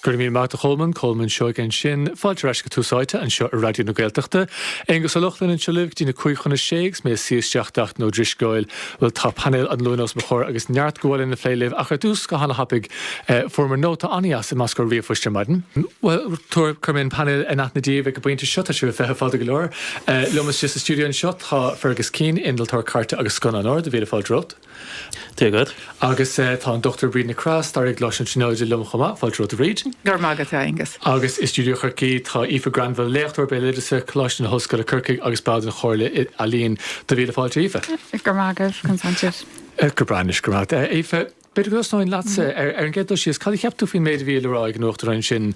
Go raibh míle maith agat, a Cholmáin, Colman Seoige ansin, fáilte ar ais go Tús Áite anseo ar Raidió na Gaeltachta. Aonghus Ó Lochlainn anseo libh go dtí a cúig chun a sé agus mé ag suí isteach d'Fhachtna Ó Drisceoil. Bhuel tá painéal an Luain os mo chomhair agus neart go bhfuil le plé libh ach ar dtús go hana-thapaidh eh, fuaireamar nóta an-deas i measc ár ríomhphoist ar maidin. Bhuel tabhair cuirfidh mé an painéal in aithne daoibh ag an bpointe seo, tá sibh ar feitheamh fada go leor. Eh, liom istigh sa stiúideo anseo tá Fergus Keane, innealtóir cairte agus scannánóir, do mhíle fáilte romhat. Dia dhuit. Agus tá an Dr. Bríd Nic Craith, Staraí i gColáiste na Tríonóide liom chomh maith. Fáilte romhat a Bhríd. Go raibh maith agat, a Aonghuis. Agus i stiúideo Chorcaí tá Aoife Granville, Léachtóir Béaloideasa, Coláiste na hOllscoile Corcaigh agus ball den Chomhairle Ealaíon. Do mhíle fáilte Aoife. Go raibh maith agat. Consented. Go breá anois, go raibh maith agat. Aoife, b'fhéidir go dtosnóinn leatsa. Ar an gcéad dul síos, cad a cheap tú faoin méid a bhí le rá ag an Uachtarán ansin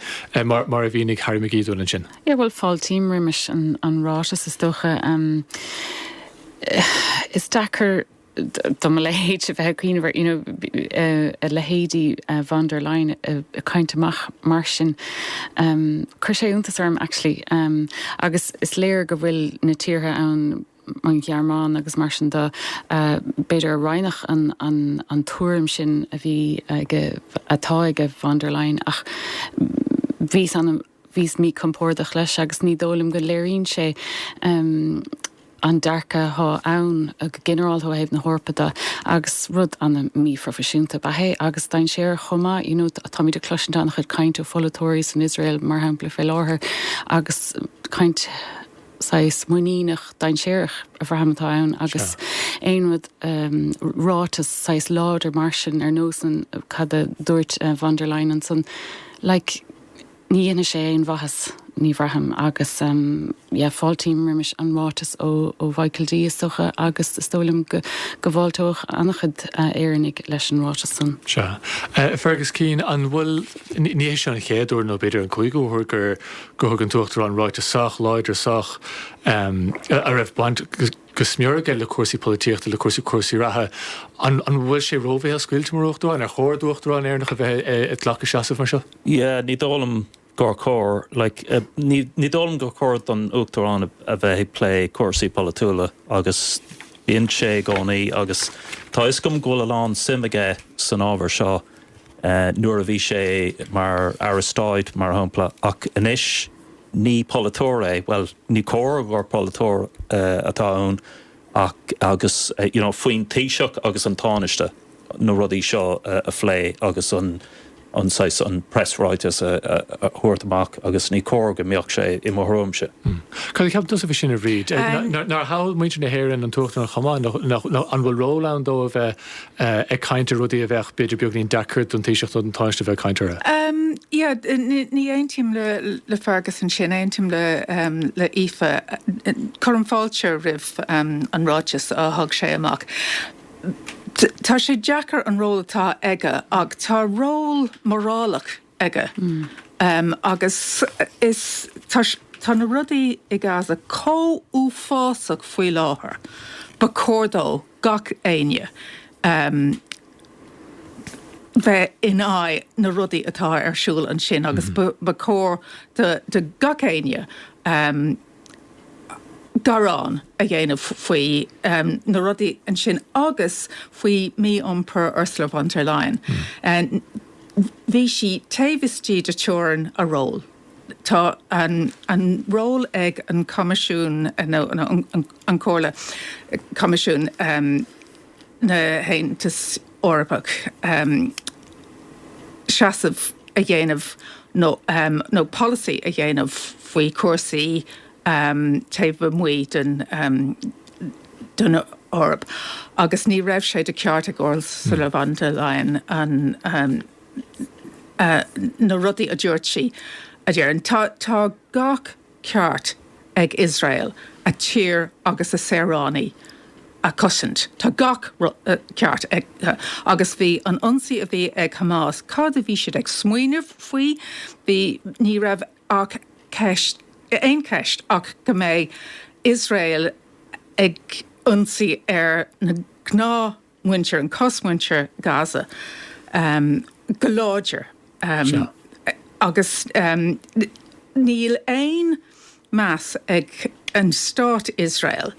mar a mhínigh Harry McGee dúinn ansin? Yeah, bhuel, fáiltím roimis an ráiteas, is dócha. Is deacair. do mo leithéid a bheith ag cuimhneamh ar, you know, a leithéidí von der Leyen ag caint amach mar sin. Chuir sé iontas orm, actually. Agus is léir go bhfuil na tíortha ann, an Ghearmáin agus mar sin de, b'fhéidir a roinneadh an tuairim sin a bhí ag, atá ag von der Leyen. Ach bhíos an-. Bhíos míchompordach leis agus ní dóigh liom go léiríonn sé an dearcadh atá ann go ginearálta ó thaobh na hEorpa de agus rud an-mhíphroifisiúnta ab ea é agus dainséarach chomh maith. You know táimid ag cloisint an-chuid cainte ó pholaiteoirí san Iosrael mar shampla fé láthair agus caint saghas muiníneach dainséarach a bhraithim atá ann agus aon rud, ráiteas saghas láidir mar sin ar nós an, cad a dúirt von der Leyen ansan, like, Ní dhéanfaidh sé aon mhaitheas, ní bhraithim, agus yeah fáiltím roimis an ráiteas ó Mhichael D. is dócha agus is dóigh liom go bhfáilteodh an-chuid Éireannaigh leis an ráiteas san. Sea. Fergus Keane, an bhfuil, ní hé seo an chéad uair, nó b'fhéidir an cúigiú uair, gur thug an tUachtarán ráiteas sách láidir, sách, a raibh baint, go smior aige le cúrsaí polaitíochta, le cúrsaí cúrsaí reatha. An an bhfuil sé róbhéalscaoilte mar Uachtarán? Ar chóir d'Uachtarán Éireannach a bheith ag glacadh seasamh mar seo? Yeah, ní dóigh liom gur chóir. Like, ní ní dóigh liom gur chóir don Uachtarán a bheith ag plé cúrsaí polaitiúla agus bíonn sé i gcónaí agus tá fhios agam go bhfuil a lán suim aige san ábhar seo, eh, nuair a bhí sé mar Aire Stáit, mar shampla, ach anois. Ní polaiteoir é, bhuel, ní cóir gur polaiteoir atá ann ach, agus, you know, faoin Taoiseach agus an Tánaiste na rudaí seo a phlé agus an, an saghas, an press ráiteas a thabhairt amach agus ní cóir go mbeadh sé, i mo thuairimse. Cad a cheapann tusa faoi sin, a Bhríd? Nár thogh muintir na hÉireann an tUachtarán chomh maith, nó an bhfuil ról ann dó a bheith ag caint ar rudaí a bheadh b'fhéidir beagáinín deacair don Taoiseach nó don Tánaiste a bheith ag caint orthu. Yeah, ní aontaím le Fergus ansin, aontaím le Aoife. Cuirim fáilte roimh an ráiteas a thug sé amach. Tá sé deacair an ról atá aige ach tá ról morálach aige agus is, tá na rudaí i Gaza chomh uafásach faoi láthair, ba chóir do gach éinne bheith in aghaidh na rudaí atá ar siúl ansin agus ba chóir do gach éinne gearán a dhéanamh faoi na rudaí ansin agus faoi mí-iompar Ursula von der Leyen. Ní bhí sí taobh istigh de theorainn a ról. Tá an ról ag an Choimisiún, nó an Chomhairle, Coimisiún na hAontas Eorpach seasamh a dhéanamh nó polasaí a dhéanamh faoi chúrsaí taobh amuigh den, den Eoraip agus ní raibh sé de cheart ag Ursula von der Leyen na, na rudaí a dúirt sí a dhéanamh. Tá gach ceart ag Iosrael a tír agus a saoránaigh a chosaint. Tá gach ceart acu. Agus bhí an ionsaí a bhí ag Hamas, cad a bhí siad ag smaoineamh faoi? Bhí, ní raibh ach ceist, aon cheist ach go mbeidh Iosrael ag ionsaí ar na gnáthmhuintir, an chosmhuintir Ghaza go láidir agus níl aon meas ag an stát Iosrael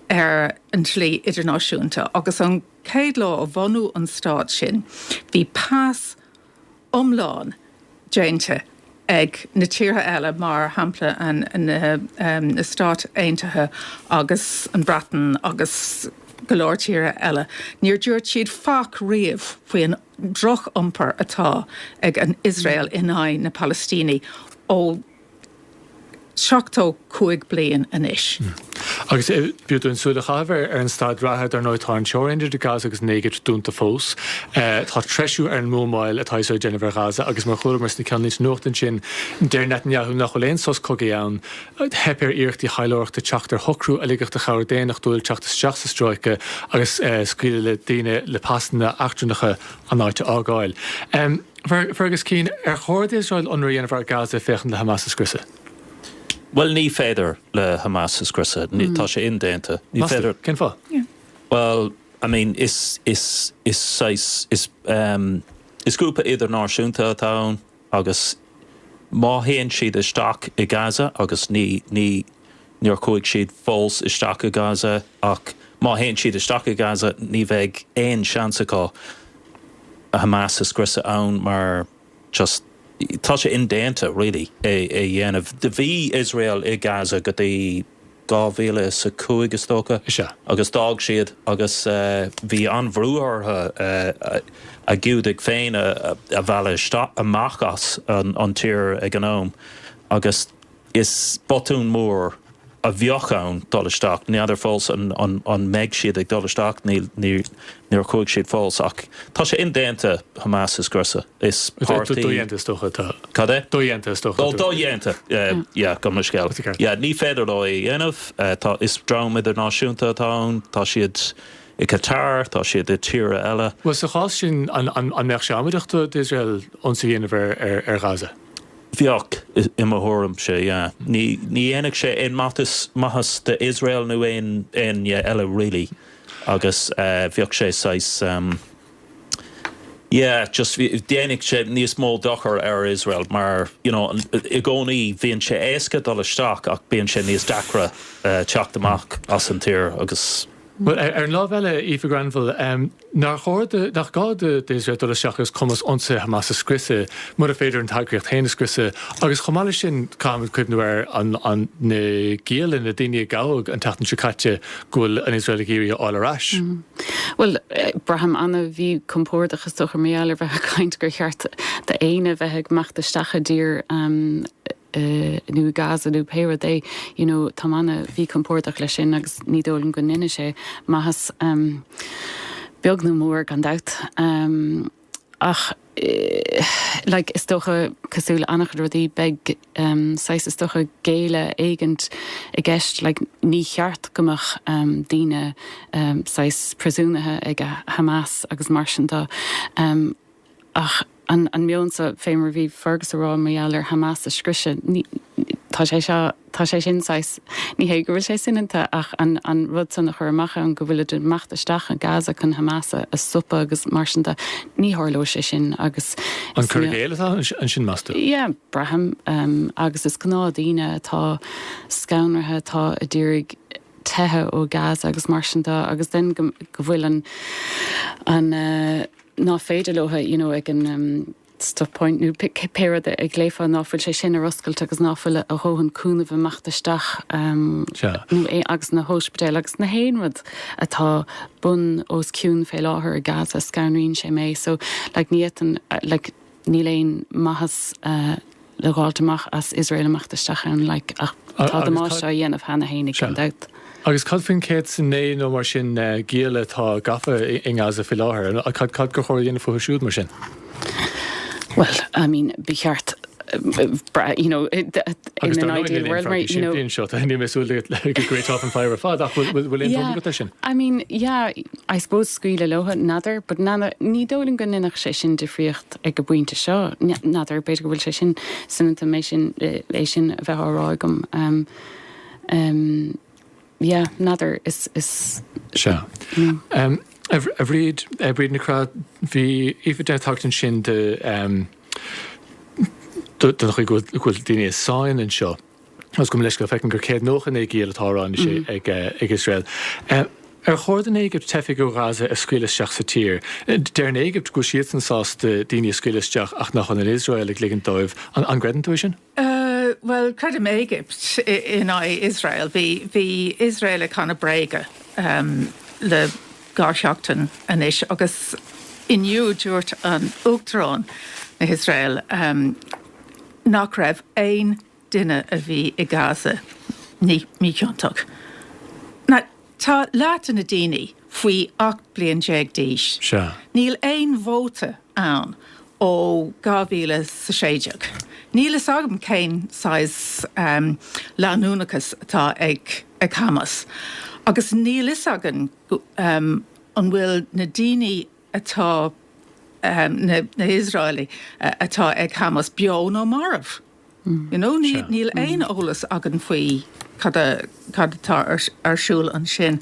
ar an dlí idirnáisiúnta agus ón chéad lá a bunaíodh an stát sin bhí pas iomlán déanta ag na tíortha eile, mar shampla na, na Stáit Aontaithe agus an Bhreatain agus go leor tíortha eile, níor dhúirt siad faic riamh faoin droch-iompar atá ag an Iosrael in aghaidh na Palaistínigh ó. seachtó cúig bliain anois. Agus b'fhiú dúinn súil a chaitheamh ar an staid reatha, dar ndóigh, tá an teorainn idir Gaza agus an Éigipt dúnta fós. Tá treisiú ar an mbuamáil atá Iosrael ag déanamh ar Ghaza agus, mar a chualamar sna ceannlínte nuachta ansin, deir Netanyahu nach bhfuil aon sos cogaidh ann. Theip ar iarrachtaí thaidhleoireachta teacht ar shocrú a ligfeadh do chabhair daonnachtúil teacht isteach sa stráice agus scaoileadh le daoine le pasanna eachtrannacha an áit a fhágáil. Fergus Keane, Ar chóir d'Iosrael ionradh a dhéanamh ar Gaza féachaint le Hamas a scriosadh? Bhuel, ní féidir le Hamas a scriosadh. Tá sé indéanta. Ní féidir. Cén fáth? Bhuel, I mean, is, is, is saghas, is, is grúpa idirnáisiúnta atá ann agus má théann siad isteach i Gaza agus ní, ní, Níor chuaigh siad fós isteach i Gaza ach má théann siad isteach i Gaza ní bheidh aon seans acu Hamas a scriosadh ann mar just tá sé indéanta really é a dhéanamh. Do bhí Iosrael i Gaza go dtí dhá mhíle is a cúig is dócha agus d'fhág siad agus bhí an-bhrú orthu a Giúdaigh féin a mhealladh amach as an tír ag an am agus Is botún mór a bheadh ann dul isteach. N'fheadar fós an mbeidh siad ag dul isteach, níor chuaigh siad fós, ach tá sé indéanta, Hamas a scriosadh. Is páirtí. Dodhéanta is dócha atá. Cad é? Dodhéanta is dócha. Ó, dodhéanta! Yeah, gabh mo leithscéal. Yeah, ní féidir leo é a dhéanamh. Tá, is dream idirnáisiúnta atá ann. Tá siad i Qatar, tá siad i tíortha eile. Bhuel, sa chás sin, an mbeadh sé amaideach d'Iosrael ionsaí a dhéanamh ar Gaza? Bheadh, i mo thuairimse, yeah. Ní dhéanfadh sé aon maitheas d'Iosrael nó aon, aoinne eile really agus bheadh sé saghas, yeah, just dhéanfadh sé níos mó dochar ar Iosrael mar, you know, i gcónaí bhíonn sé éasca dul isteach ach bíonn sé níos deacra teacht amach as an tír agus. Bhuel, ar an lámh eile, a Aoife Granville, nár chóir do, nach gá do, d'Iosrael dul isteach agus cumas ionsaithe Hamas a scriosadh, mura féidir an t-eagraíocht féin a scriosadh? Agus chomh maith leis sin, caithfimid cuimhniú ar an, an, na gialla, na daoine a gabhadh an tseachtain seo caite go bhfuil an Iosrael ag iarraidh a fháil ar ais. Bhuel, braithim ana mhíchompordach, is dócha, mar gheall ar bheith ag caint gur cheart d'aoinne bheith ag imeacht isteach i dtír, nó Gaza nó pé rud é, you know, táim ana mhíchompordach leis sin agus ní dóigh liom go ndeineadh sé, maitheas beag ná mór, gan dabht. Ach, like, is dócha, cosúil le an-chuid rudaí, beidh saghas, is dócha, géilleadh éigint i gceist, like, ní cheart go mbeadh daoine, saghas, príosúnaithe ag Hamas agus mar sin de. Ach an an meon so, fé mar a bhí Fergus a rá, mar gheall ar Hamas a scriosadh, ní, tá, tá sé sin saghas, ní hé go bhfuil sé soineanta ach an an rud san a chur amach ann go bhfuilid ag imeacht isteach i Gaza chun Hamas a a stopadh agus mar sin de, ní tharlóidh sé sin agus An cur i gcéill atá ansin, meas tú? yeah, braithim, em, agus is gnáthdhaoine atá scanraithe atá a d'iarraidh teitheadh ó Gaza agus mar sin de agus then go go bhfuil an an eh, ná féidir leothu you know ag an um, stop point nó pe- ce- pé rud a a ghlaofá ná fuil sé sin ar oscailt agus ná fuil a a dhóthain cúnaimh imeacht isteach um, Sea. nó é agus na hóispidéil agus na haon rud atá bun os cionn fé láthair i Gaza scanraíonn sé mé so like ní fhéadfainn uh, like Níl aon maitheas le dh'fháilt amach as Iosrael imeacht isteach ann, like, ach tá damáiste á dhéanamh cheana fhéinig, gan dabht. Agus cad faoin 109 nó mar sin giall atá gafa i nGaza faoi láthair, cad gur chóir a dhéanamh fúthu siúd, mar sin? Bhuel, I mean, ba cheart, you know, in an ideal world, right, you know. Agus tá an fhadhb sin sin seo, níl mé ag súil go réiteofá an fhadhb ar fad, ach bhfuil aon dul agat air sin? Yeah, I mean, yeah. I suppose scaoileadh leothu, n'fheadar, but n'fheadar, ní dóigh liom go ndéanfadh sé sin difríocht ag an bpointe seo, n'fheadar, b'fhéidir go bhfuil sé sin soineanta, mé sin, é sin a bheith á rá agam, em, em, yeah, n'fheadar, is, is, Sea. you know. Em, a Bhri- a Bhríd, a Bhríd Nic Craith, bhí Aoife ag déanamh tagairt ansin de, em, do- don chaoi go bhfuil daoine i sáinn anseo. Is gabh mo leithscéal, feicim gur 199 giall atá á rá anois ag Iosrael. Ar chóir don Éigipt teifigh ó Ghaza a scaoileadh isteach sa tír? Deir an Éigipt go bhfuil siadsan sásta daoine a scaoileadh isteach ach nach bhfuil an Iosrael ag ligint dóibh. An gcreideann tú é sin? Bhuel, creidim Éigipt in aghaidh Iosrael. Bhí Iosrael ag canadh bréaga le dhá sheachtain anois agus inniu dúirt an Uachtarán na hIosrael nach raibh aon duine a bhí i Gaza míchiontach. Tá leath de na daoine faoi 18 bliain d'aois. Níl aon vóta ann ó 2016. Níl fhios agam cén saghas leanúnachas atá ag Hamas agus níl fhios againn an bhfuil na daoine atá, na hIosraelaigh atá ag Hamas beo nó marbh. You know, níl aon eolas againn faoi cad atá ar siúl ansin.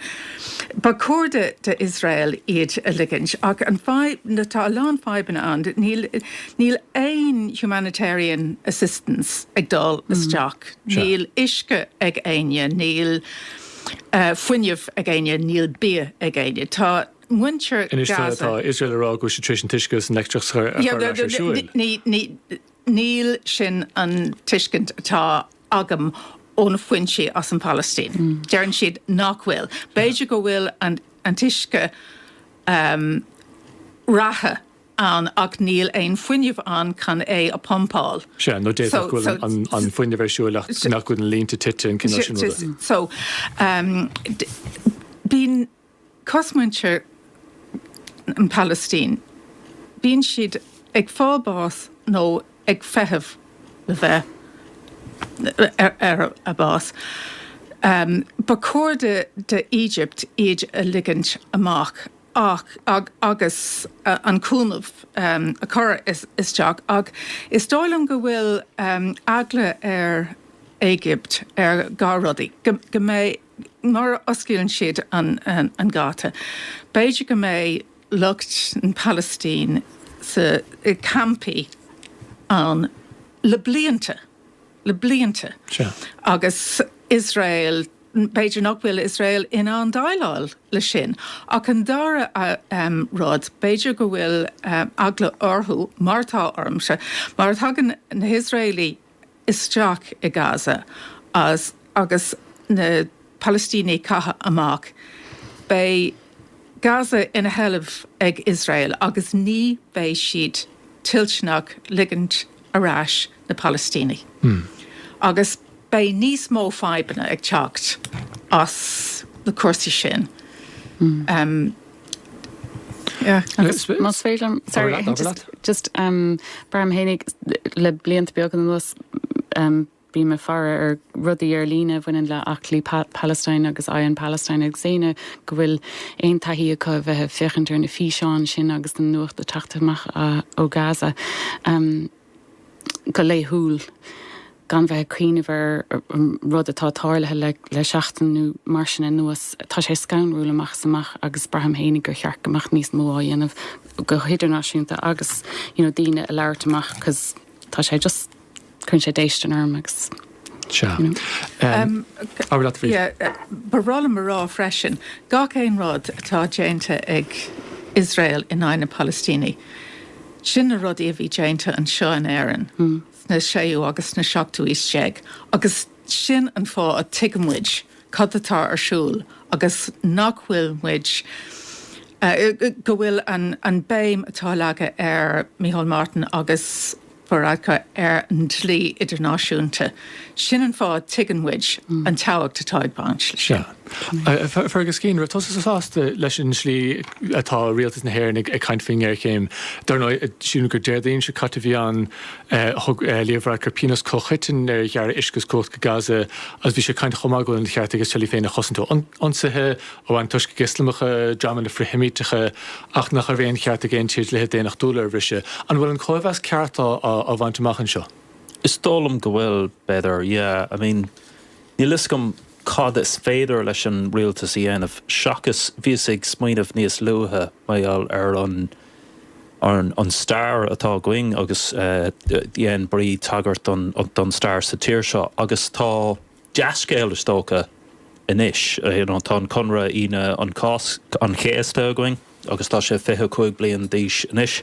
Ba chóir d'Iosrael iad a ligint. Ach an fadhb, nó tá a lán fadhbanna ann, níl aon humanitarian assistance ag dul isteach, níl uisce ag éinne, níl fuinneamh ag éinne, níl bia ag éinne. Tá muintir Gaza... Anois tá Iosrael ag rá go bhfuil siad tar éis an t-uisce agus an leictreachas a chur ar siúl. Níl sin an tuiscint atá agam ó na foinsí as an Phalaistín. Deireann siad nach bhfuil. B'fhéidir go bhfuil an t-uisce reatha ann ach níl aon fuinneamh ann chun é a phumpáil. Sea, nó d'fhéadfadh go bhfuil an fuinneamh ar siúl ach nach, go bhfuil na línte tite, an cineál sin ruda. Cosmhuintir na Palaistíne, bíonn siad ag fáil bás nó ag feitheamh le bheith ar an mbás. Ba chóir do Éigipt iad a ligint amach agus an cúnamh a chur isteach ach is dóigh liom go bhfuil eagla ar Éigipt ar dhá rudaí, go mbeidh má osclaíonn siad an geata, b'fhéidir go mbeidh lucht na Palaistíne sa campaí ann le blianta, le blianta, agus Iosrael, b'fhéidir nach bhfuil Iosrael in ann déileáil leis sin. Ach an dara rud, b'fhéidir go bhfuil eagla orthu, mar atá ormsa, má thagann na hIosraeligh, isteach i Gaza agus na Palaistínigh caite amach, beidh Gaza ina seilbh ag Iosrael agus ní bheidh siad toilteanach ligint ar ais na Palaistínigh. Agus beidh níos mó fadhbanna ag teacht as na cúrsaí sin. Más féidir liom, sorry, just braithim féinig le blianta beaga anuas bhí mé ag faire ar rudaí ar líne a bhaineann le Aclaí Palestine agus Eye on Palestine agus éinne go bhfuil aon taithí acu a bheith ag féachaint ar na físeáin sin agus an nuacht ag teacht amach ó Gaza. go laethúil gan bheith ag cuimhneamh ar rud atá tarlaithe le seachtain nó mar sin anuas. Tá sé scanrúil amach is amach agus braithim féinig gur cheart go mbeadh níos mó á dhéanamh go hidirnáisiúnta agus you know daoine ag labhairt amach cause tá sé just cuireann sé déistean orm agus Ba bhreá liom a rá freisin, gach aon rud atá déanta ag Iosrael in aghaidh na Palaistíní, sin na rudaí a bhí déanta anseo in Éirinn sna séú agus sna seachtú aois déag agus sin an fáth a tuigeann muid cad atá ar siúl agus nach bhfuil muid, go bhfuil an béim atá leagtha ag Micheál Martin agus. Varadkar ar an dlí idirnáisiúnta. Sin an fáth a tuigeann muid an tábhacht atá ag baint. Fergus, cén, an raibh tusa sásta leis an tslí atá Rialtas na hÉireann ag caint faoin ngéarchéim? Dar ndóigh, sílim gur Déardaoin seo caite a bhí ann, thug Leo Varadkar pionós comhchoiteann ar ghearradh uisce is cumhacht go Gaza agus bhí sé ag caint chomh maith go bhfuil an ceart ag Iosrael í féin a chosaint ó ionsaithe, ó antoiscigh Ioslamacha, dreamanna frith-Sheimíteacha, ach nach raibh aon cheart ag aon tír dlíthe daonnachtúla a bhriseadh. An bhfuil an cóimheas ceart á bhaint amach anseo? Is dóigh liom go bhfuil, b'fhéidir. Yeah, I mean, níl 'fhios agam cad is féidir leis an rialtas a dhéanamh, seachas, bhíos ag smaoineamh níos luaithe mar gheall ar an, ar an stair atá againn agus dhein Bríd tagairt don stair sa tír seo agus tá, Dea-scéal is dócha anois. Tá an conradh Aoine an Cásc, an Chéasta, againn agus tá sé 25 bliain d'aois anois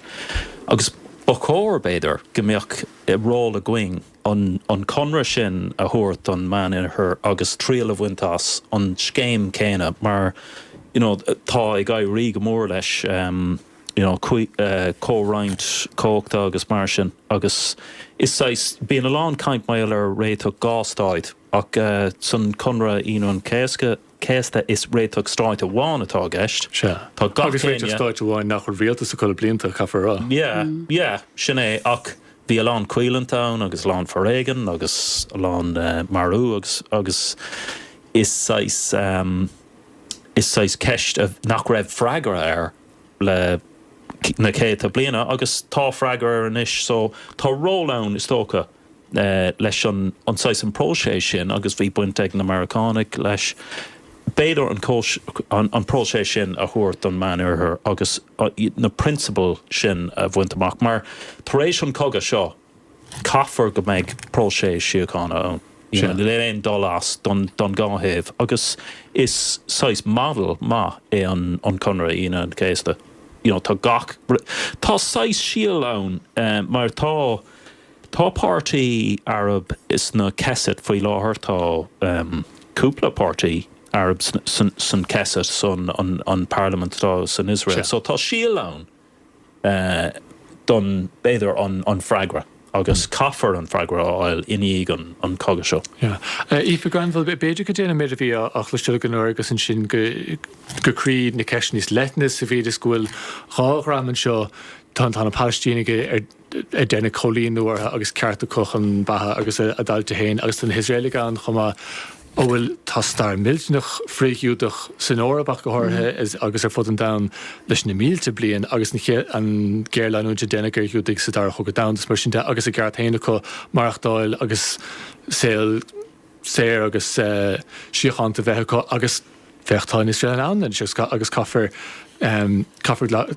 agus ba chóir, b'fhéidir, go mbeadh ról againn an conradh sin a thabhairt don Mheánoirthear agus triail a bhaint as an scéim chéanna mar tá ag éirí go mór leis. you know, comhroinnt comhachta agus mar sin agus is saghas, bíonn a lán caint mar gheall ar réiteach dhá stáit ach san Conradh Aoine an Céasca, Chéasta is réiteach stáit amháin atá i gceist. Sea. Tá agus réiteach stáit amháin nach bhfuil rialtas acu le blianta, caithfear a rá. Yeah, yeah, sin é ach bhí a lán coimhlint ann agus a lán foréigean agus a lán marú agus, agus is saghas, is saghas ceist a, nach raibh freagra air. le na céadta bliana agus tá freagra air anois. So tá ról ann, is dócha, leis an saghas an próiseas sin agus bhí baint ag na Meiriceánaigh leis. B'fhéidir an próiseas sin a thabhairt don Mheánoirthear agus na prionsabail sin a bhaint amach mar, tar éis an cogadh seo, Caithfear go mbeidh próiseas síochána ann, níl aon dul as don dhá thaobh, agus is saghas model maith é an Conradh Aoine an Chéasta, you know tá gach, tá saghas síol ann mar tá, tá páirtí Arab insan Knesset faoi láthair, tá cúpla páirtí Arab san Knesset san an Parliament atá san Iosrael, so tá síol ann. don, b'fhéidir, an freagra agus caithfear an freagra a fháil i ndiaidh an chogaidh seo. Yeah. Aoife Granville, b'fhéidir go dtéann an méid a bhí á chloisteáil againn ó Rob ansin go croí na ceiste níos leithne sa mhéid is go bhfuil dhá dhream anseo, tá na Palaistínigh ar. a deineadh coilíniú orthu agus ceart acu chun beatha agus a dtailte féin. Agus tá na hIosraelaigh ann chomh maith a bhfuil, tá stair mhillteanach frith-Ghiúdach san Eoraip ach go háirithe agus ar fud an domhain leis na mílte bliain agus an géarleanúint a deineadh ar Ghiúdaigh sa Dara Chogadh Domhanda is mar sin de agus a gceart féin acu maireachtáil agus saol saor agus síochánta bheith acu. Agus féach, tá an Iosrael ann anois agus caithfear, caithfear.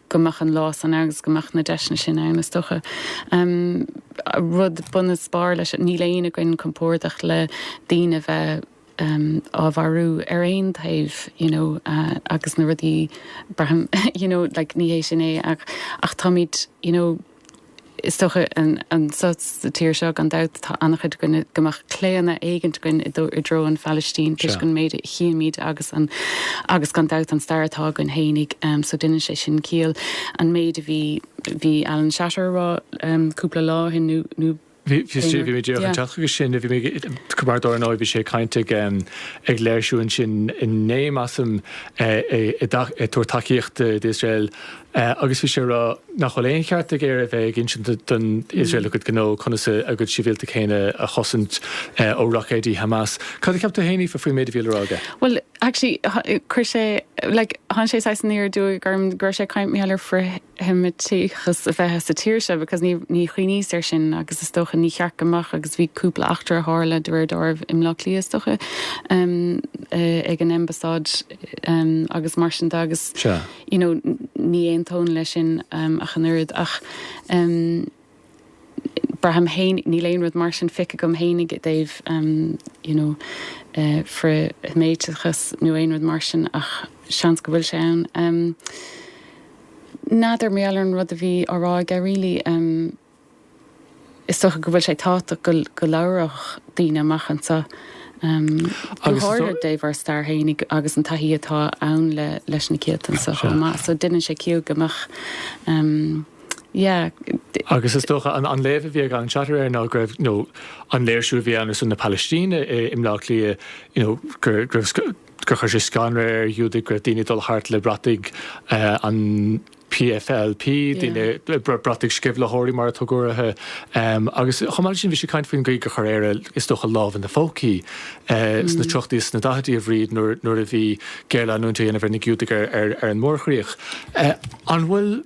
go mbeadh an lá san agus go mbeadh na deiseanna sin ann is dócha. Rud bunaspáir leis sin, níl éinne againn compordach le daoine a bheith á marú ar aon taobh you know agus na rudaí, braithim you know like ní hé sin é ach táimid you know, Is dócha, anseo sa tír seo, gan dabht, tá an-chuid againn, go mbeadh claonadh éigint againn i dtreo na Palaistíne toisc an méid a chímid agus an, agus gan dabht, an stair atá againn fhéinig. So deineann sé sin ciall. An méid a bhí, bhí Alan Shatter á rá cúpla lá ó shin nó, nó, Bhí mé díreach ag teacht chuige sin, bhí mé chun a rá, dar ndóigh, bhí sé ag caint ag léirsiú ansin inné, measaim, ag tabhairt tacaíocht d'Iosrael agus bhí sé ag rá nach bhfuil aon cheart ag Éire a bheith ag insint don Iosrael a gcuid gnó conas a gcuid sibhialtach féin a chosaint ó roicéidí Hamas. Cad a cheap tú fhéin, Aoife, faoin méid a bhí le rá aige? Bhuel, actually, chuir sé, like, tháinig sé saghas aniar aduaidh orm go raibh sé ag caint, Mícheál, ar sheimitíochas a bheith sa tír seo because ní ní chuimhníos air sin agus is dócha ní ceart go mbeadh agus bhí cúpla eachtra a tharla de réir dealraimh i mBleá Cliath is dócha ehm eh, ag an Embasáid ehm agus mar sin de agus Sea. you know ní aontóinn leis sin ehm ach an oiread ach ehm braithim féin, níl aon rud mar sin feicthe agam féinig i dtaobh you know frith-Sheimíteachas nó aon rud mar sin ach seans go bhfuil sé ann. N'fheadar, mar gheall ar an rud a bhí á rá aige really, is dócha go bhfuil sé tábhachtach go labhródh daoine amach anso, go háirithe i dtaobh ár stair féinig agus an taithí atá ann leis na cianta anso chomh maith. So deineann sé ciall go mbeadh. Yeah. Agus is dócha, an léamh a bhí ag Alan Shatter air ná go raibh, you know, an léirsiú a bhí ann ar son na Palaistíne i mBleá Cliath, you know, gur, go raibh, gur chuir sé scanradh ar Ghiúdaigh go raibh daoine ag dul thart le brataigh an PFLP, daoine, brataigh sceimhlitheoirí mar a tugadh orthu. Agus chomh maith leis sin bhí sé ag caint faoin gcaoi gur chuir Éire, is dócha, a lámha ina pócaí sna tríochadaí is sna daichidí a Bhríd nuair, nuair a bhí géarleanúint á dhéanamh ar na Giúdaigh ar, ar, ar an mórchríoch. An bhfuil.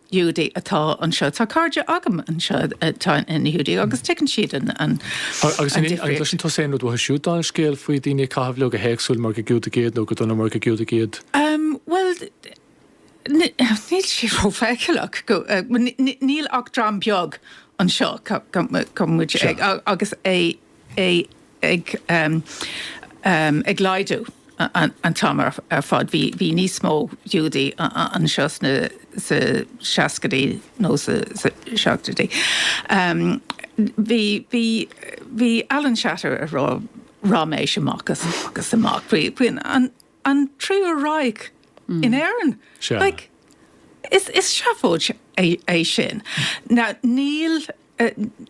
Giúdaigh atá anseo. Tá cairde agam anseo atá ina nGiúdaigh agus tuigeann siad an difríocht. Agus an bhfaigheann tú aon rud uathu siúd, aon scéal faoi daoine ag caitheamh leo go héagsúil mar gur Giúdaigh iad nó go dona mar gur Giúdaigh iad? Bhuel, níl sé rófheiceálach go, níl ach dream beag anseo, tá muid ag, agus é. é ag ag laghdú an t-am ar fad. Bhí bhí níos mó Giúdaigh anseo sna sa seascaidí nó sa sa seachtóidí. Bhí bhí bhí Alan Shatter ag rá ráiméis amach agus amach faoi faoin an an triú Reich in Éirinn. Like, is, is seafóid é, é sin. Now, níl,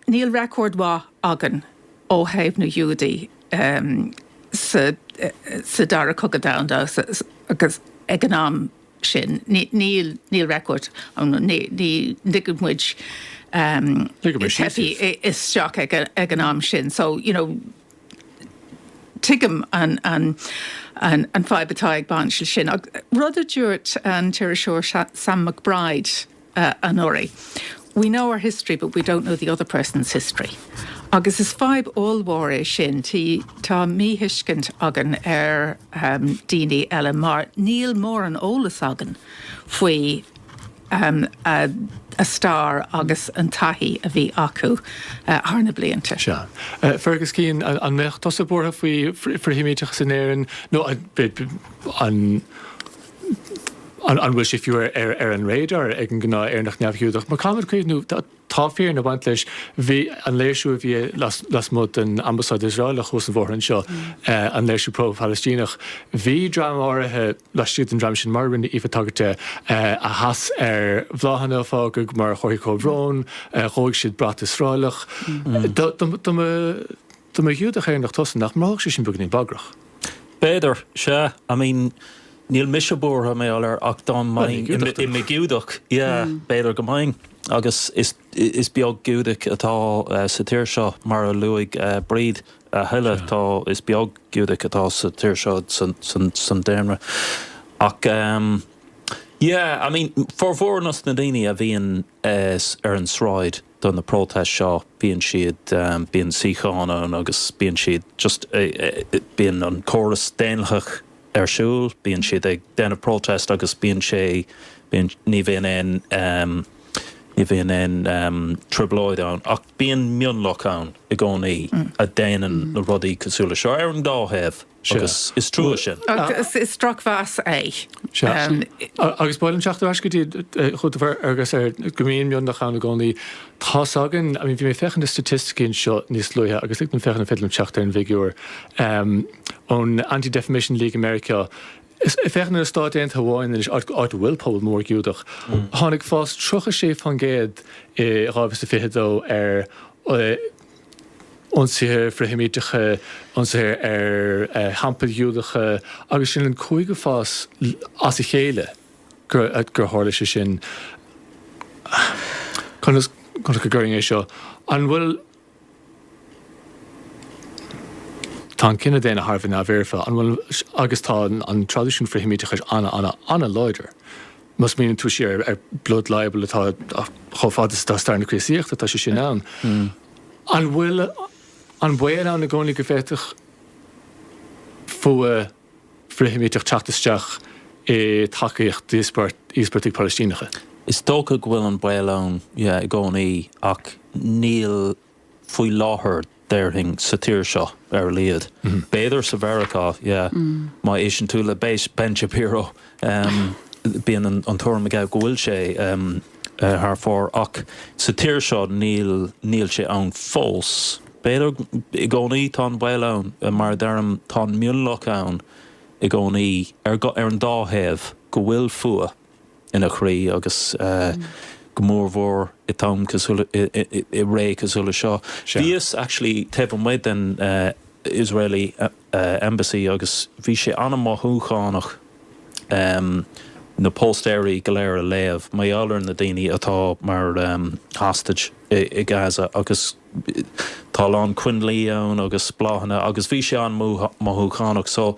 níl record mhaith againn ó thaobh na nGiúdach sa, sa Dara Cogadh Domhanda agus ag an am sin, ní, níl, níl record, ní, níor lig muid teifigh isteach ag an am sin. So, you know. Tuigim an fadhb atá ag baint leis sin, ach rud a dúirt an t-iriseoir Sam McBride anuraidh, we know our history but we don't know the other person's history. Agus is fadhb ollmhór é sin, tá míthuiscint againn ar dhaoine eile mar níl móran eolas againn faoi. um a a stair agus an taithí a bhí acu thar na blianta. Sea. Fergus Keane, an an mbeadh tusa buartha faoi fhrith-Sheimíteachas in Éirinn nó an an an bhfuil sé fiú ar ar ar an radar ag an ngnáth-Éireannach neamh-Ghiúdach? Mar caithfimid cuimhniú Tá fírinne ag baint leis. Bhí an léirsiú a bhí lasmuigh den Ambasáid Iosraelach suas an bóthar anseo, an léirsiú pro-Phalaistíneach, bhí dream áirithe laistigh den dream sin, mar a rinne Aoife tagairt de, a sheas ar bhláthanna, a fágadh mar chomharthaí comhbhróin, dhóigh siad brat Iosraelach. Dá mba Ghiúdach Éireannach tusa, nach mothódh sé sin beagainín bagrach? B'fhéidir, sea. I mean. Níl mise buartha, mar a deir, ach dá mbeinn i mo Ghiúdach, yeah, b'fhéidir go mbeinn, agus is beag Giúdach atá sa tír seo, mar a luaigh Bríd, a thuilleadh, tá, is beag Giúdach atá sa tír seo, san daonra, ach ehm, yeah, I mean, formhór na ndaoine a bhíonn ar an sráid, do na protest seo bíonn siad bíonn síocháin ann agus bíonn siad just bíonn an córas daonlathach ar siúl bíonn siad ag déanamh protest agus bíonn sé bíonn ní bhíonn aon ní bhíonn aon trioblóid ann ach bíonn mionlach ann i gcónaí a déanann na rudaí cosúla seo ar an dá thaobh Agus is trua sin. Agus is drochmheas é. Sea. Agus ba mhaith liom teacht ar ais go dtí chugatsa ar go mbíonn mionlach ann i gcónaí. Tá a fhios againn, I mean, bhí mé ag féachaint na staitisticí anseo níos luaithe agus like ag féachaint an bhféadfainn teacht ar an bhfigiúr ón Anti-Defamation League i Meiriceá. Is féachaint ar na Stáit Aontaithe amháin anois, áit áit a bhfuil pobal mór Giúdach. Tháinig fás 36% i 2022 ar ionsaithe frith-Sheimíteacha, ionsaithe ar theampaill Ghiúdacha, agus sin an cúigiú huair as a chéile gur tharla sé sin. Conas a chuirfinn é seo? An bhfuil. Tá an cine daonna thar a bheith neamhfhoirfe, an bhfuil? Agus tá an traidisiún frith-Sheimíteachais an-an-an-láidir. Má smaoiníonn tú siar ar blood libel atá chomh fada is tá stair na Críostaíochta, tá sé sin ann. An bhfuil an baol ann i gcónaí go bhféadfadh fuath frith-Sheimíteach teacht isteach i dtacaíocht d'íospartaigh Palaistíneacha? Is dócha go bhfuil an baol ann, yeah, i gcónaí ach níl faoi láthair, déarfainn, sa tír seo, ar a laghad. B'fhéidir sa Mheiriceá, yeah. Má éisteann tú le Ben Shapiro, bíonn an tuairim aige go bhfuil sé thar fóir. Ach sa tír seo, níl. Níl sé ann fós. B'fhéidir, i gcónaí tá an baol ann. Mar a deirim, tá an mionlach ann i gcónaí, ar an dá thaobh, go bhfuil fuath. ina chroí agus go mór mhór i t-am cosúil, i ré cosúil le seo. Bhíos actually taobh amuigh den Israeli Embassy agus bhí sé an-mothúchánach na póstaeirí go léir a léamh mar gheall ar na daoine atá mar hostage i Gaza agus tá a lán coinlí ann agus bláthanna agus bhí sé an-mothúchánach so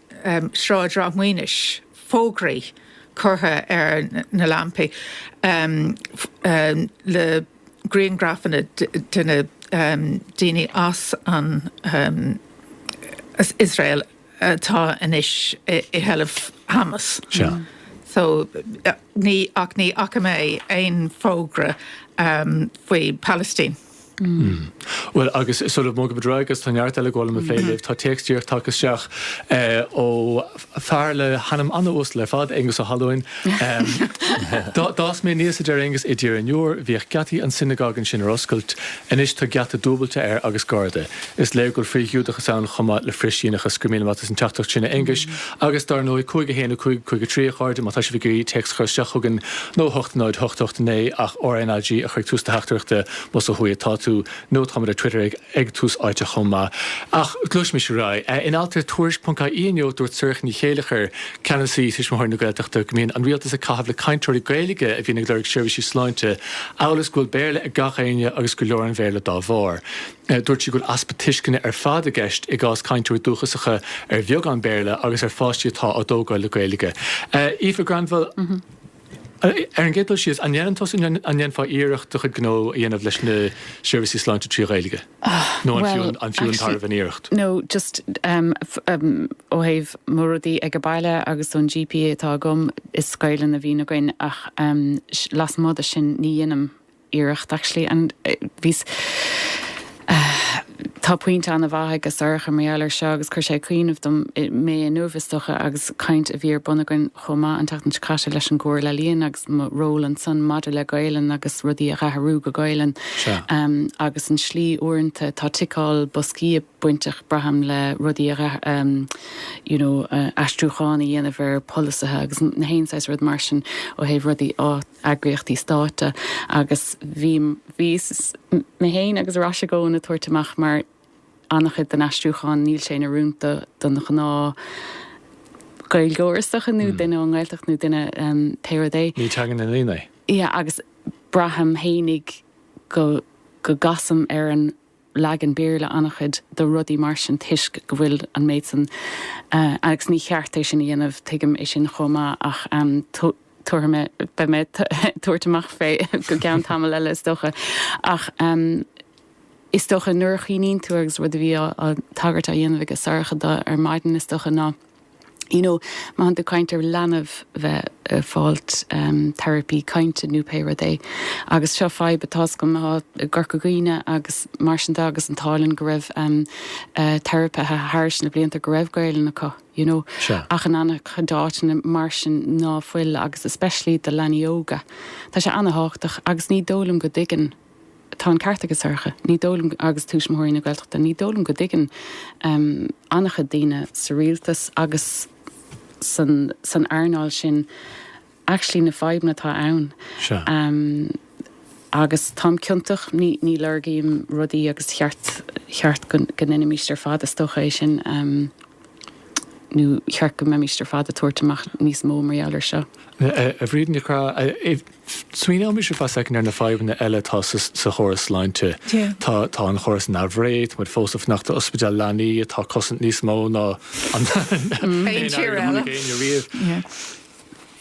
Sráid Ráth Maoinis, fógraí curtha ar na lampaí le griangrafanna de na daoine as an Iosrael atá anois i seilbh Hamas. So ní, ach ní fhaca mé aon fógra faoi Palestine. Bhuel, agus sula bhfágfaidh muid Bob Dray agus tá neart eile a gheall liom a phlé libh, tá téacs díreach tagtha isteach ó fear le hainm an-uasal ar fad, Aengus Ó hAlúin. D'fhás mé aníos, a deir Aengus, i dTír an Iúir. Bhíodh geataí an sionagóig ansin ar oscailt. Anois tá geata dúbailte air agus garda. Is léir go bhfuil frith-Ghiúdachas ann chomh maith le frith-Shíónachas. Go raibh míle maith agat as an teachtaireacht sin, a Aonghuis. Agus, dar ndóigh, 5 1 5 5 3, a chairde, má tá sibh ag iarraidh téacs a chur isteach chugainn, nó 8 0 8 8 9, ach RNAG a chur ag tús do theachtaireachta, más ó thuaidh atá tú. Nó, táimid ar Twitter ag ag Tús Áite chomh maith. Ach gluaisimís ar aghaidh. In alt ar Tuairisc. ie inniu, dúirt Sorcha Ní Chéilleachair, Ceannasaí Tuismitheoirí na Gaeltachta, go mbíonn an rialtas ag caitheamh le cainteoirí Gaeilge a bhíonn ag lorg seirbhísí sláinte, amhail is go bhfuil Béarla ag gach éinne agus go leor an Bhéarla dá bharr. Dúirt sí go bhfuil easpa tuisceana ar fad i gceist i gcás cainteoirí dúchasacha ar bheagán Béarla agus ar pháistí atá á dtógáil le Gaeilge. Aoife Granville, Ar an gcéad dul síos, an ndéanann tusa nó an ndéanfá iarracht do chuid gnó a dhéanamh leis na seirbhísí sláinte trí Ghaeilge? Nó an fiú an tairbhe an iarracht? No, just ó thaobh mo rudaí ag an baile agus ón GP atá agam, is Gaelainn a bhíonn againn ach lasmuigh de sin ní dhéanaim. iarracht actually and bhí tá pointe an-mhaith ag Sorcha mar gheall air seo agus chuir sé ag cuimhneamh dom mé inniu is dócha agus caint a bhí ar bun againn chomh maith an tseachtain seo caite leis an gComhairle Ealaíon agus mo ról ansan maidir le Gaolainn agus rudaí a dh'athrú go Gaolainn agus an tslí uaireanta tá ticeáil boscaí ag bainteach braithim le rudaí a you know aistriúchán a dhéanamh ar pholasaithe agus nach aon saghas rud mar sin ó thaobh rudaí á eagraíochtaí stáit agus bhí mé féin agus ar ais i gcónaí ag tabhairt amach mar an-chuid den aistriúchán níl sé in oiriúint don ghnáth-Ghaeilgeoir is dócha nó duine ón nGaeltacht nó duine pé rud é. Ní teanga na ndaoine é. Yeah agus braithim fhéinig go gcasaim ar an leagan Béarla an-chuid de rudaí mar sin toisc go bhfuil an méid san agus ní cheart é sin a dhéanamh, tuigim é sin chomh maith ach tabharfaidh mé, beidh mé ag tabhairt amach fé go gceann tamaill eile is dócha ach is dócha nuair a chuimhníonn tú agus rud a bhí á tagairt á dhéanamh aige Sorcha dó ar maidin is dócha ná. You know, má thánn tú ag caint ar leanbh bheith eh, fáilt em, therapy cainte nó pé rud é agus seo fadhb atá againne i gCorca Dhuibhne agus mar sin de agus an t-ádh linn go raibh em, eh, teiripithe thairis na blianta go raibh Gaelainn acu you know, Sea. ach in an-chuid áiteanna mar sin ná fuil agus especially do leanaí óga. Tá sé an-thábhachtach agus ní dóigh liom go dtuigeann Tá an ceart aige Sorcha, ní dóigh liom, agus Tuismitheoirí na Gaeltachta, ní dóigh liom go dtuigeann an-chuid daoine sa rialtas agus san earnáil sin actually na fadhbanna atá ann. Sea. Agus táim ciontach, ní lorgaím rudaí agus cheart go ndeinimíst ar fad, is dócha, é sin nó cheart go mbeimíst ar fad ag tabhairt amach níos mó mar gheall air seo. A Bhríd Nic Craith. Smaoinímis ar feadh soicind ar na fadhbanna eile atá sa chóras sláinte. Tá an chóras in aimhréidh, tá muid fós ag fanacht ar ospidéal leanaí atá ag cosaint níos mó ná aon airgead a chonaic éinne riamh.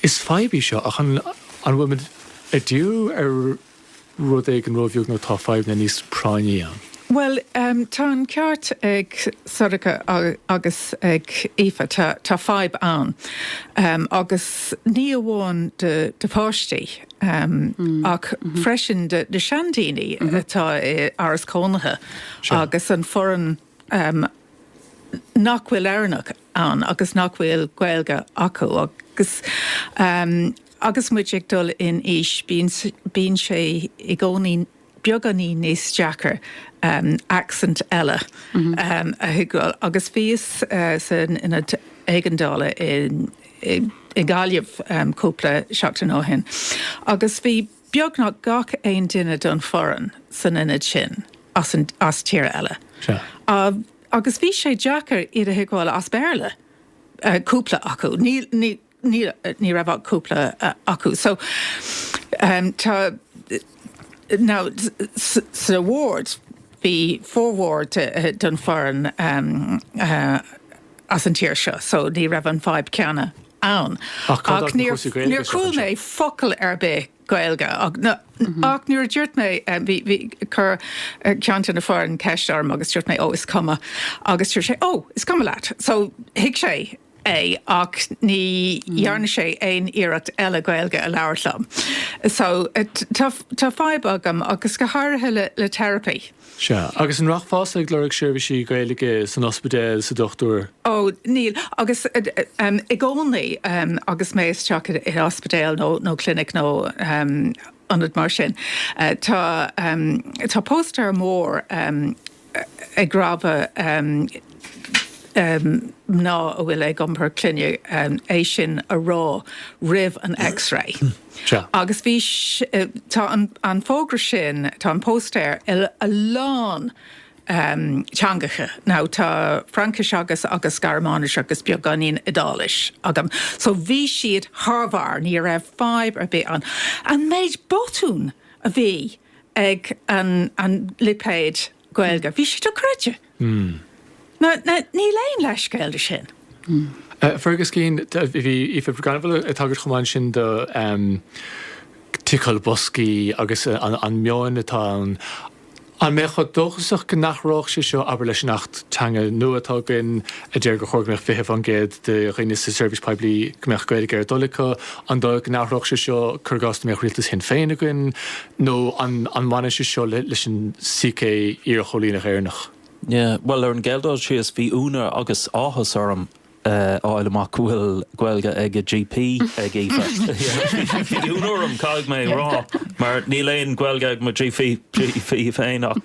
Is fadhb í seo ach an bhfuil muid ag díriú ar rud éigin róbheag nó tá fadhbanna níos práinní ann? Bhuel, tá an ceart ag Sorcha agus ag Aoife, tá fadhb ann agus ní amháin do pháistí ach freisin do seandaoine atá i áras cónaithe agus an foireann nach bhfuil Éireannach ann agus nach bhfuil Gaeilge acu agus agus muid ag dul in aois bíonn sé i gcónaí beagáinín níos deacra accent eile a thuigbheáil agus bhíos san Ionad Éigeandála i nGaillimh cúpla seachtain ó shin agus bhí beagnach gach aon duine den foireann san ionad sin as tír eile agus bhí sé deacair iad a thuigbheáil as Béarla, cúpla acu. ní raibh ach cúpla acu. So, tá, now, sa ward, bhí formhór den foireann as an tír seo, so ní raibh an fadhb céanna ann. Ach níor chuala mé focal ar bith Gaeilge. Ach nuair a dúirt mé, bhí, chuir ceann de na foireann ceist orm agus dúirt mé, oh, is cuma. Agus dúirt sé, oh, is cuma leat. So, thuig sé. é ach ní dhearna sé aon iarracht eile Gaeilge a labhairt liom. So tá fadhb ann agus go háirithe le therapy. Sea, agus an rachfása ag lorg seirbhísí Gaeilge san ospidéal, sa dochtúir? Ó, níl, agus i gcónaí agus mé isteach i ospidéal nó clinic nó ionad mar sin, tá póstaer mór, ag rabhadh mná a bhfuil ag iompar clainne é sin a rá roimh an x-ray. Agus bhí, tá an fógra sin, tá an póstaer in a lán teangacha, now tá Fraincis agus agus Gearmáinis agus beagáinín Iodáilis agam, so bhí siad thar bharr, ní raibh fadhb ar bith ann. An méid botún a bhí ag an lipéid Gaeilge. Bhí sé dochreidte. Níl aon leithscéal do sin. Fergus Keane, Bhí Aoife Granville ag tagairt chomh maith ansin do ticeáil boscaí agus an meon atá ann. An mbeifeá dóchasach go n-athródh sé seo, abair, leis an Acht Teanga nua atá againn? a deir gur chóir go mbeadh 20% de dhaoine sa tseirbhís poiblí go mbeadh Gaeilge ar a dtoil acu. An dóigh go n-athródh sé seo, cuir i gcás dá mbeadh rialtas Shinn Féin againn? Nó an mbaineann sé seo leis an sícé iarchóilíneach Éireannach? Yeah, bhuel, ar an gcéad dul síos, bhí ionadh agus áthas orm a fháil amach go bhfuil Gaeilge ag an GP ag Aoife. Bhí ionadh orm, caithfidh mé a rá, mar níl aon Ghaeilge ag mo GP féin ach.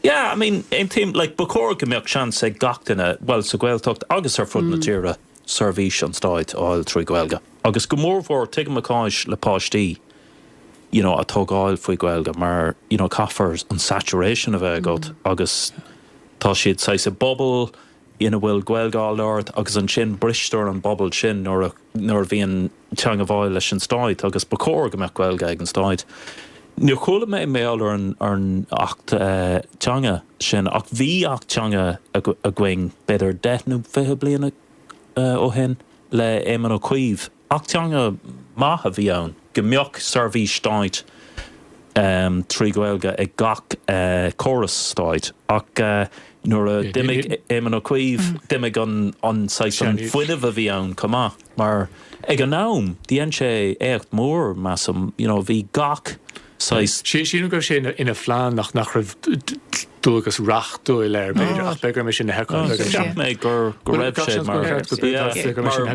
Yeah, I mean, aontaím, like, ba chóir go mbeadh seans ag gach duine, bhuel, sa Ghaeltacht agus ar fud na tíre, seirbhís an Stáit a fháil trí Ghaeilge. Agus go mórmhór, tuigim a cás le páistí, you know, á dtógáil faoi Ghaeilge mar, you know, caithfidh an saturation a bheith agat agus tá siad saghas i bpobal, ina bhfuil Gaeilge á labhairt agus ansin bristear an pobal sin nuair a nuair a bhíonn teanga bháil leis an stát agus ba chóir go mbeadh Gaeilge ag an stát. Níor chuala mé mar gheall ar an ar an Acht teanga sin ach bhí Acht teanga againn b'fhéidir deich nó fiche bliana ó shin le Éamon Ó Cuív. Acht teanga maith a bhí ann, go mbeadh seirbhís stáit trí Ghaeilge ag gach córas stáit. Ach nuair a d'imigh Éamon Ó Cuív, d'imigh an saghas, an fuinneamh a bhí ann chomh maith. Mar ag an am, dhein sé éacht mór, measaim, you know, bhí gach. saghas. Sílim go raibh sé ina phlean ach nach raibh dualgas reachtúil air, b'fhéidir, ach b'fhéidir gurb é sin na hActanna beaga sin. Cheap mé go raibh sé mar.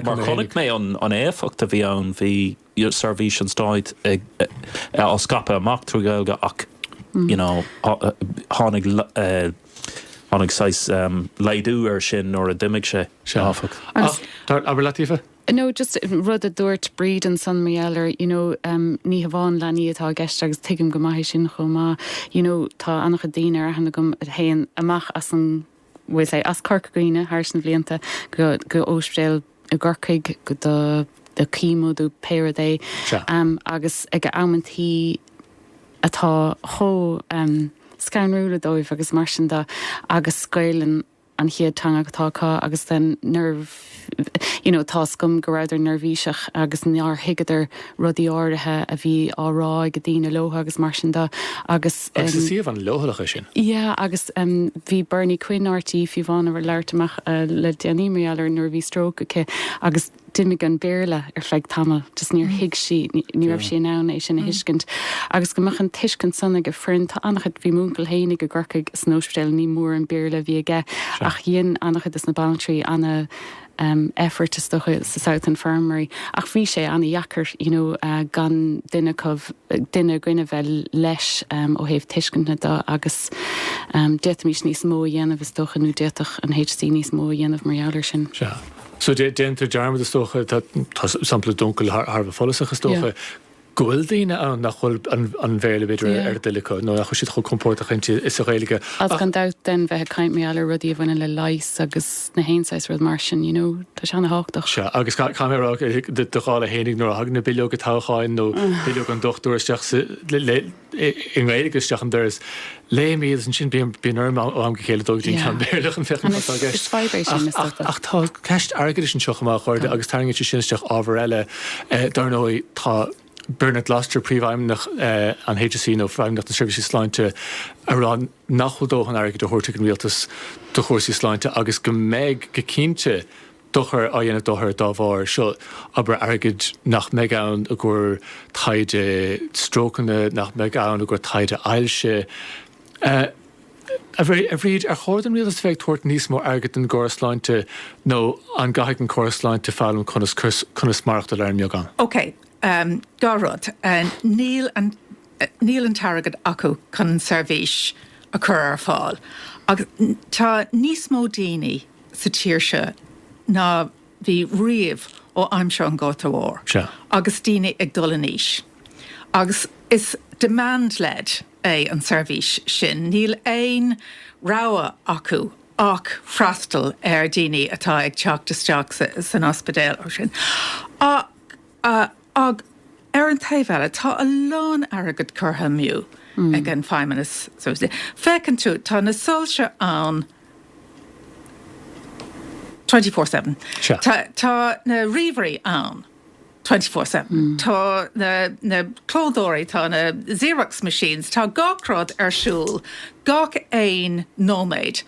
Mar chonaic mé an éifeacht a bhí ann, bhí seirbhís an stáit á scaipeadh amach trí Ghaeilge ach you know tháinig tháinig saghas laghdú air sin nuair a d'imigh sé, áfach. Abair leat Aoife? No, just rud a dúirt Bríd ansan, mar gheall air, you know, em, ní hamháin leanaí atá i gceist agus tuigim go maith é sin chomh maith, you know, tá an-chuid daoine ar aithne agam a théann amach as an, we'll say, as Corca Dhuibhne thar na blianta go, go óspidéal i gCorcaigh go do, do chemo do pé rud é, Sea. em, agus ag amantaí atá chomh, em, scanrúla dóibh agus mar sin de agus Gaelainn an chéad teanga atá acu agus then nuair you know tá a fhios agam go rabhadar neirbhíseach agus nár thuigeadar rudaí áirithe a bhí á rá ag daoine leo agus mar sin de agus Agus is em suíomh an-leochaileach é sin. yeah agus em bhí Bernie Quinn RTÉ fiú amháin ag labhairt amach eh le déanaí mar gheall ar nuair a bhí stroke aici agus d'imigh an Béarla ar feadh tamaill, just níor thuig sí, ní raibh sí in ann é sin a thuiscint agus go mbeadh an tuiscint san ag an bhfoireann. Tá an-chuid, bhí m'uncail féinig i gCorcaigh san ospidéal, ní mór an Béarla a bhí aige ach dhein an-chuid de na banaltraí ana em effort is dócha sa South Infirmary ach bhí sé ana dheacair you know gan duine acu, duine againn a bheith leis em ó thaobh tuisceana de agus em d'fhéadfaimis níos mó a dhéanamh is dócha nó d'fhéadfadh an HC níos mó a dhéanamh mar gheall ar sin. Sea. So déantar dearmad, is dócha, tá sampla d'uncail thar a bheith follasach, is dócha, go bhfuil daoine ann nach bhfuil an Bhéarla, b'fhéidir, ar a dtoil acu, nó nach bhfuil siad chomh compordach inti is sa Ghaeilge. Agus gan dabht then bheith ag caint mar gheall ar rudaí a bhaineann le leigheas agus 'chaon saghas rud mar sin, you know, tá sé ana-thábhachtach. Sea, agus caithfidh mé a rá, do dhála fhéinig, nuair a thagann na bileoga toghcháin nó bileog an dochtúra isteach sa, i nGaeilge isteach an doras. Léim iad is ansin bíonn bíonn orm ó am go chéile dul go dtí an ceann Béarla chun féachaint cad atá i gceist. Is fadhb é sin, is dócha. Ach tá ceist airgeadais anseo chomh maith, a chairde, agus tarraingíonn sé sin isteach ábhar eile. Dar ndóigh, tá Bernard Gloster, Príomhfheidhmeannach an HSE nó Feidhmeannacht na Seirbhísí Sláinte, ag rá nach bhfuil dóthain airgid á thabhairt ag an Rialtas do chúrsaí sláinte agus go mbeidh, go cinnte, dochar á dhéanamh d'othair dá bharr. Seo, abair, airgead nach mbeidh ann i gcomhair taighde strócanna, nach mbeidh ann i gcomhair taighde ailse. A Bhríd, ar chóir don rialtas a bheith ag tabhairt níos mó airgid don gcóras sláinte nó an gcaithfidh an córas sláinte foghlaim conas maireachtáil ar an mbeagán? Ok, dhá rud. Níl an. níl an t-airgead acu chun an seirbhís a chur ar fáil agus tá níos mó daoine sa tír seo ná bhí riamh ó aimsir an Ghorta Mhóir agus daoine ag dul in aois agus is demand led é an seirbhís sin. Níl aon rogha acu ach freastal ar dhaoine atá ag teacht isteach san ospidéal ansin. Á, ach ar an taobh eile, tá a lán airgid curtha amú ag an Feidhmeannas. Feiceann tú, tá na soilse ann twenty four seven. Sea. Tá na ríomhairí ann twenty four seven. Tá na clódóirí, tá na Xerox machines, tá gach rud ar siúl gach aon nóiméad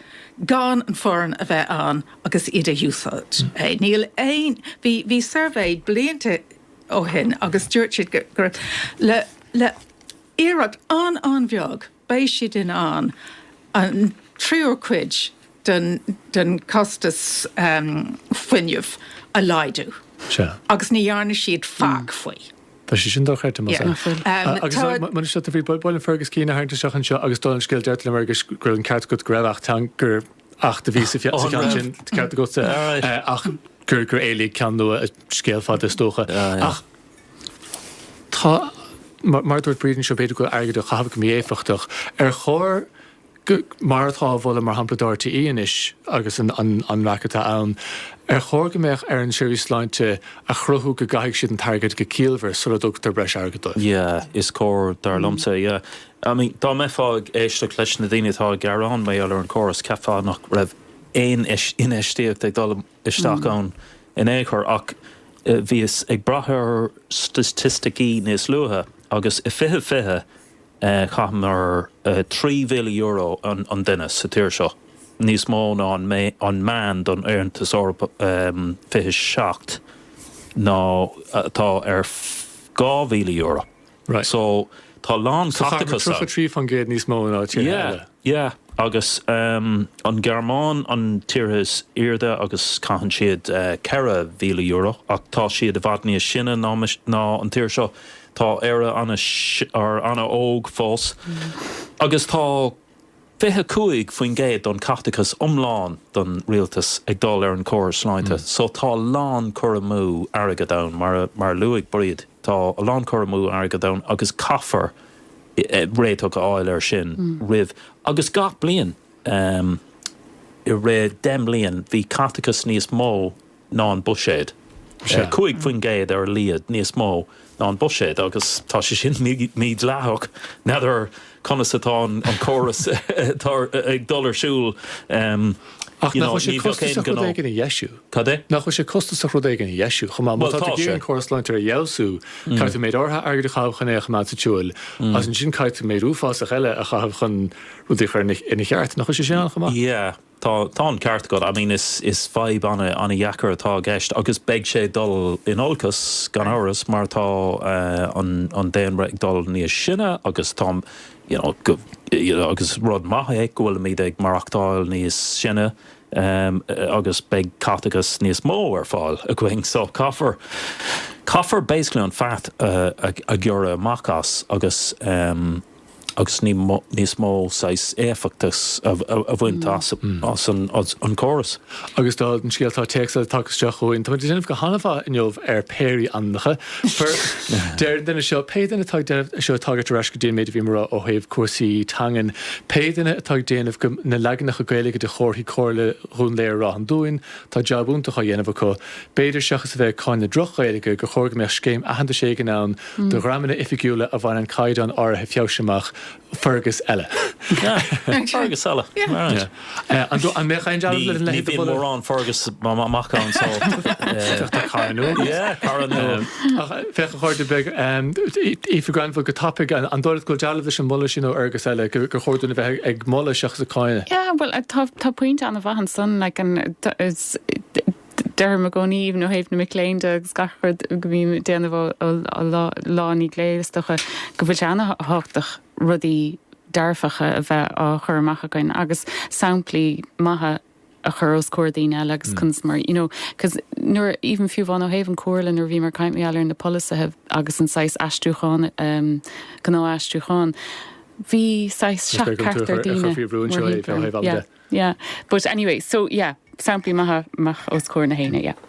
gan an fhoireann a bheith ann. agus iad a úsáid. Níl aon, bhí, bhí suirbhé blianta ó shin agus dúirt siad go, go raibh, le, le iarracht an-an-bheag beidh siad in ann an tríú cuid den, den costas fuinnimh a laghdú. Sea. Agus ní dhearna siad faic faoi. Tá sé sin dochreidte más ea. Agus tá, mar sin de, ba mhaith liom Fergus Keane a tharraingt isteach anseo agus dá, an scéal, deirtear liom, agus go raibh an ceart agat go raibh Acht Teanga, gur, Acht a bhí sa cheann sin, ceart agat, ach gur gur éalaigh ceann nua, scéal fada is dócha. Ach tá, mar a dúirt Bríd anseo, b'fhéidir go bhfuil airgead á chaitheamh go mí-éifeachtach. Ar chóir go, mar atá á mholadh mar shampla do RTÉ anois agus an an raic atá ann, ar chóir go mbeadh ar an tseirbhís sláinte a chruthú go gcaithfidh siad an t-airgead go ciallmhar sula dtugtar breis airgid dóibh? Yeah, is cóir, dar liomsa, yeah. I mean, dá mbeifeá ag éisteacht leis na daoine atá ag gearán mar gheall ar an chóras, cheapfá nach raibh aon infheistíocht ag dul isteach ann in aon chor. Ach bhíos ag breathnú ar staitisticí níos luaithe agus i 2020 chaitheamar €3,000 an duine sa tír seo, níos mó ná an meán don Aontas Eorpach, 27, nó atá ar €2,000. So tá lán caiteachas ann. 33% níos mó ná tíortha eile. Yeah, yeah. Agus an Ghearmáin an tíortha is airde agus caitheann siad €4,000 ach tá siad i bhfad níos sine ná an tír seo. Tá Éire an-óg fós agus tá. 25% don caiteachas iomlán don rialtas ag dul ar an córas sláinte so tá a lán cur amú airgead ann mar mar a luaigh Bríd tá a lán cur amú airgead ann agus caithfear réiteach a fháil ar sin roimh agus gach bliain i rith deich mbliain bhí caiteachas níos mó ná an buiséad. 5 faoin gcéad ar a laghad níos mó ná an buiséad agus tá sé sin mídhleathach. N'fheadar conas atá an córas ag dul ar siúl, Ach nach bhfuil sé costasach rud éigin a dheisiú? Cad é? Nach bhfuil sé costasach rud éigin a dheisiú chomh maith? Má tá tú ag iarraidh an córas sláinte a fheabhsú, caithfidh tú méid áirithe airgid a chaitheamh chun é a choimeád sa tsiúl agus ansin caithfidh tú méid uafásach eile a chaitheamh chun rudaí a chur ina cheart. Nach bhfuil sé sin ann chomh maith? Tá, tá an ceart agat. I mean is, is fadhb an-an-dheacair atá i gceist agus beidh sé ag dul in olcas gan amhras mar tá an, an daonra ag dul níos sine agus tá, you know, go, you know, agus rud maith é go bhfuilimid ag maireachtáil níos sine agus beidh caiteachas níos mó ar fáil againn so caithfear, caithfear basically an fat a, a, a ghearradh amach as agus. agus níos mó saghas éifeachtas a bhaint as an córas. Agus dála an scéil tá téacs eile tagtha isteach chugainn. Táimid ag déanamh go han-mhaith inniu ar péirí ainmneacha. Deir an duine seo, Pé duine atá ag déanamh, seo ag tagairt ar ais go dtí an méid a bhí mé a rá ó thaobh cúrsaí teangan, pé duine atá ag déanamh na leaganacha Gaeilge de chomharthaí Comhairle Dhún Laoghaire-Ráth an Dúin, Tá jab iontach á dhéanamh acu. B'fhéidir, seachas a bheith ag cáineadh droch-Ghaeilge, gur chóir go mbeadh scéim aitheantais éigin ann do dhreamanna oifigiúla a bhaineann caighdeán áirithe feabhais amach, Fergus eile. Fergus eile, alright. An mbeadh aon dealramh leis an leithéid de mholadh? Ní bhíonn mórán Fergus amach ann so. Tá cara nua agat. Yeah, cara nua. Ach féach, a chairde, beidh Aoife Granville go tapaidh. An dóigh leat go bhfuil dealramh leis an moladh sin ó Fhergus eile, gur chóir dúinn a bheith ag moladh seachas ag cáineadh? Yeah, bhuel, tá pointe an-mhaith ansan, like an, deirim i gcónaí, even ó thaobh na mic léinn de agus gach rud go mbím ag déanamh lá i ndiaidh lae is dócha, go bhfuil sé an-thábhachtach rudaí dearfacha a bheith á chur amach againn agus samplaí maithe. a chur os comhair daoine eile agus conas mar, you know, cos nuair, even fiú amháin ó thaobh an Chomhairle, nuair a bhíomar ag caint mar gheall ar na polasaithe agus an saghas aistriúcháin, ehm, gnáthaistriúcháin, bhí saghas Is beag an seachtar, ochtar daoine, chuirfí a bhrúin seo mórthimpeall, ó thaobh eile yeah, de. yeah. But anyway, so yeah, samplaí maithe, amach os comhair gach éinne, yeah.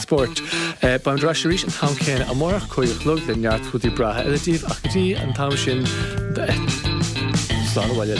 Spóirt. Beimid ar ais arís an t-am céanna amárach, cúig a chlog, le neart rudaí breátha eile daoibh ach go dtí an t-am sin slán abhaile.